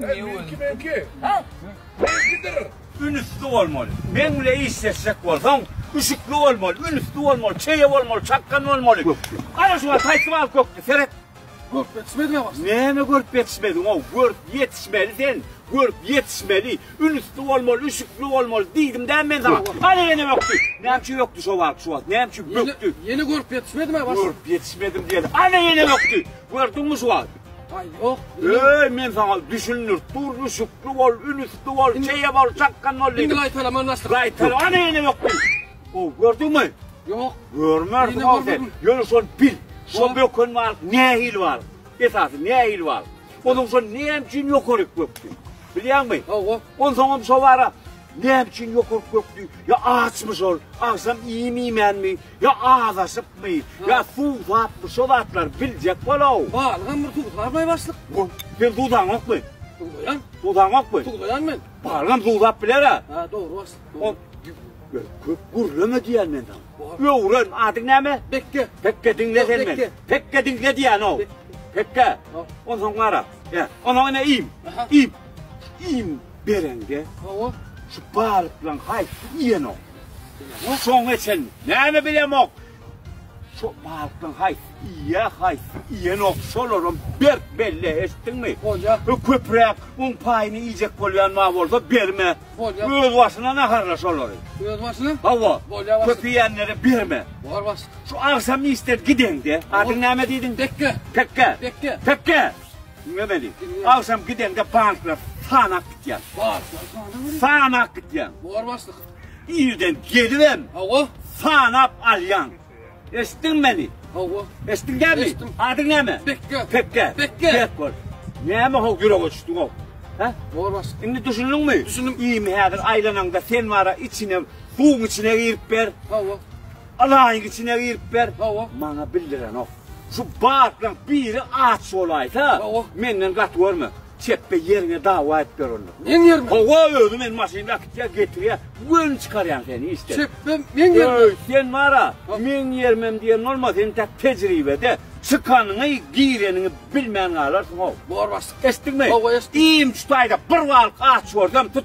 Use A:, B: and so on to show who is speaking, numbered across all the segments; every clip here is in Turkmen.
A: Meňki meňki. Ha? Meňkidir. Ünüsli bolmaly. Meň bile işleşjek bolsaň, üşükli bolmaly, ünüsli bolmaly, çeýe bolmaly, çakgan bolmaly. Ana şu wagt haýsy bal kökdi, seret. Görüp ýetişmedi ýa başda. Näme görüp ýetişmediň o? Görüp ýetişmeli sen. Görüp ýetişmeli. Ünüsli bolmaly, üşükli bolmaly diýdim dämi men sana? Ana ýene ökdi. Näme üçin ökdi şu wagt, şu wagt? Näme üçin ökdi? Ýene görüp ýetişmedim ýa başda. Görüp ýetişmedim diýeli. Ana ýene ökdi. Gördüňmi şu wagt? Öý men saňa düşündir dur düşükli bol ünüsli bol çeýe bol çakgan bol diýdim. Indi gaýtalama naşyk. Gaýtalama näme ýok diýdim. O gördüňmi? Ýok. Görmärsiň ol sen. Ýöne şol bil. Şol böken bar nähili bar? Esasy nähili bar? Onuň şol näme üçin ýokaryk gökdi? Bilýäňmi? Owa. Ondan soň hem şo bara näme üçin ýokaryk gökdi? Ýa açmy şol? Agşam iýim iýmänmi? Ýa azaşypmy, ýa suwsapmy şo zatlary biljek bol-ow. Balygam bir suwsarmy başlyk? Goh, sen suwsaňokmy? Suwsaýan. Suwsaňokmy? Suwsaýan men. Balygam suwsap biler-ä. Hä, dogry başlyk, dogry. Ýör, köp gürleme diýýän men saňa. Öwren, adyň näme? Pekge. Pekge, diňle sen meni. Pekge diňle diýýän-ow. Pekge. Onsoň gara, ýa, onsoň ine iým, iým. Iým bereňde, şu balyklaň haýsy iýen-ow? Bu soňa çen näme bilemok. Şo balykdan haýsy iýýä, haýsy iýenok, şolaram berk belle, eşitdiňmi? Bolýa. Köpräk un paýyny iýjek bolýan ma bolsa berme. Bolýa. Öz başyna naharla şolary. Öz başyna? Hawa. Bolýa başlyk. Köp iýenlere berme. Bolar başlyk. Şu agşam işden gideňde, adyň näme diýdiň? Pekge. Pekge. Pekge. Pekge. Diňle meni. Diňle. Agşam gideňde banklar sanak gitýän. Banklar sanak. Sanak gitýän. Bolar başlyk. Irden gelibem, hawa, sanap alýaň. Eşitdiňmi meni? Hawa. Eşitdiň dämi? Eşitdim. Adyň näme? Pekge. Pekge. Pekge. Pek bol. Näme ho ýürege düşdüň ho? Ha? Bolas. Indi düşündiňmi? Düşündim. Iými häzir aýlanaňda sen bara içine, suwuň içine girip ber. Hawa. Alaýyň içine girip ber. Hawa. Maňa bildirenok. Şu batlaň biri aç bolaýsa, Hawa. menden gaty görme. Çepbe ýeriňe dawa aýyp ber onda. Meň ýerime. Hawa özi men maşynda akitýa getirýä göni çykarýan seni işden. Çepbe meň ýerime. Öý sen bara meň ýerimem diýen bolma sen tak tejribede çykanyňy gireniňi bilmän galarsyň how. Bor başlyk. Eşitdiňmi? Hawa eşitdim. Iýmçi taýda bir balyk aç görsem tut.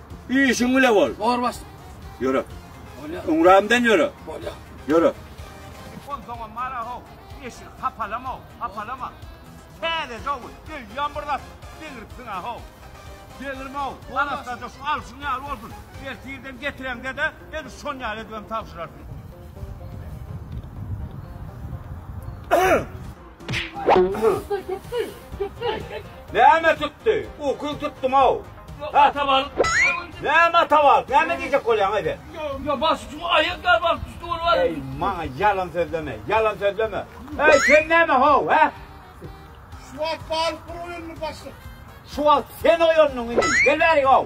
A: Işiň bile bol. Bor baş. Ýöre. Bolýar. Öňrämden ýöre. Bolýar. Ýöre. Ol doňam mara ho. Eşik hapalama, hapalama. Täze dowul. Eýýäm bir zat. Deňiripsiň a ho. Deňirme ho. Arassaja şu alşyň ýaly bolsun. Ertirden getireňde-de, edil şon ýaly edibem tabşyrarsyň. Näme tutdy? Uky tutdum-ow. Ata balyk. Näme ata balyk? Näme diýjek bolýaň-aý sen? Ýa baş üçin aýak ýaly balyk düşdi ol balyk. Eý, maňa ýalan sözleme, ýalan sözleme. Eý, sen näme how, hä? Şu wagt balyk bir oýandy başlyk. Şu wagt sen oýandyň indi. Gel bäri how.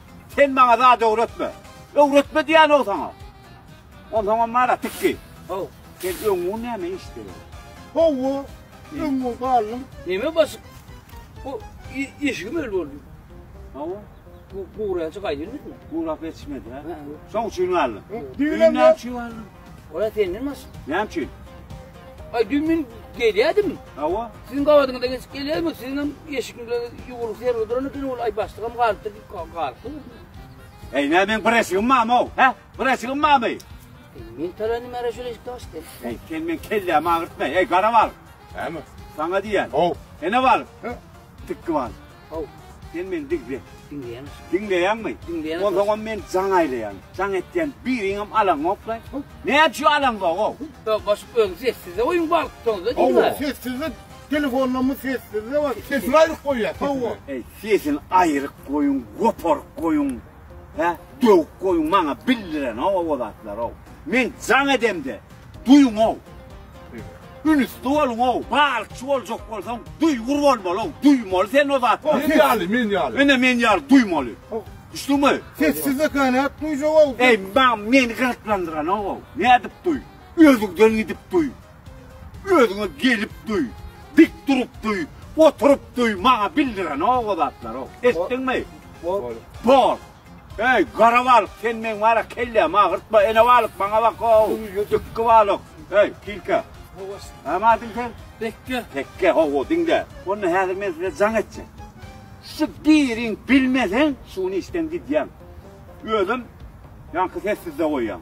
A: Sen maňa zat öwretme. Öwretme diýýän-ow saňa. Onsoňam bar-a tikgi. How, sen öňňun näme işde? Hawa, öňňun galdym. Näme basyp? Bu eşigim öl boldy. Hawa. Bu guraja gaýdylmyşmy? Gurap ýetişmedi-hä. Şoň üçin galdym. Düýn näme üçin galdym? Ola senden başga. Näme üçin? Ay dün men gelýärdim. Hawa. Siziň gabadyňyzda geçip gelýärdim. Siziň hem eşigiňizde ýuwrup ýer oturan eken ol ay başlygam galypdyr. Galypdyr. Ey näme men bir eşigim barmy o? He? Bir eşigim barmy? Men talandy mara şöyle eşikde açdy. Ey sen men kellämi agyrtma. Ey garabal. Näme? Sana diýen. Haw. Ene bal. He? Tikki bal. How, sen meni diňle. Diňleýäňmi? Diňleýäňmi? Diňleýän. Onsoňam men jaň aýlaýan. Jaň etýän biriňem alaňokla. Näme üçin alaňzog-ow? Ýok, başyk öň sessizde goýuň bal tutsaňyz-da diýme. How, sessizde telefonlammy sessizde bar. Sesini aýryk goýýa. How. Eý, sesini aýryk goýuň, goparyk goýuň. Hä, döwük goýuň maňa bildirenok-ow o zatlar-ow. Men jaň edemde, Duýuň-ow! Ünüsli boluň-ow! Balykçy boljak bolsaň, duýgur bolmaly-ow! Duýmaly sen o zat! Men ýaly, men ýaly. Ine, men ýaly duýmaly. Düşdüňmi? Sessizlika nädip duýjak-ow? Eý, maňa meni gyzyklandyranok-ow! Nädip duý? Özüňden gidip duý! Özüňe gelip duý! Dik durup duý! Oturyp duý! Maňa bildirenok o zatlary-ow! Eşitdiňmi? Bol! Bol! Eý, gara balyk, sen meň wara kellämi agyrtma, ene balyk, maňa bak-ow, dykgy balyk. Eý, tilkä. Hawa. Näme adyň sen? Tekge. Tekge, hawa, diňle. Onda häzir men size jaň etjek. Şu biriň bilmeseň, şuny işden gidýäň. Özüm ýaňky sessizde goýýan.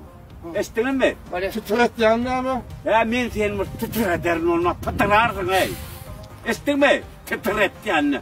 A: Eşitdiňizmi? Titretýäň näme? Hä, men seni bir titrederin, onda pytyrarsyň, eý. Eşitdiňmi? Titretýän.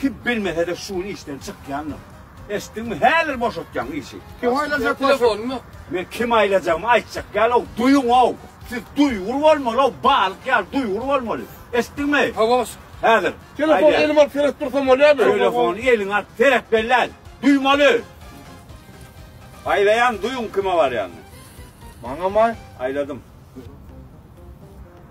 A: Kim bilmese-de şu gün işden çykýandyr. Eşitdiňmi, häzir boşatýaň işi. Kim aýlajak bolsa. Telefonym ýok. Men kim aýlajagymy aýtjak ýal-ow, duýuň-ow. Siz duýgur bolmaly-ow, balyk ýaly duýgur bolmaly. Eşitdiňmi? Hawas. Häzir. Telefony elime alyp seredip dursam bolýarmy? Telefony eliňe alyp seret bellän. Duýmaly. Aýlaýan, duýuň kime barýanyny. Maňamy? Aýladym.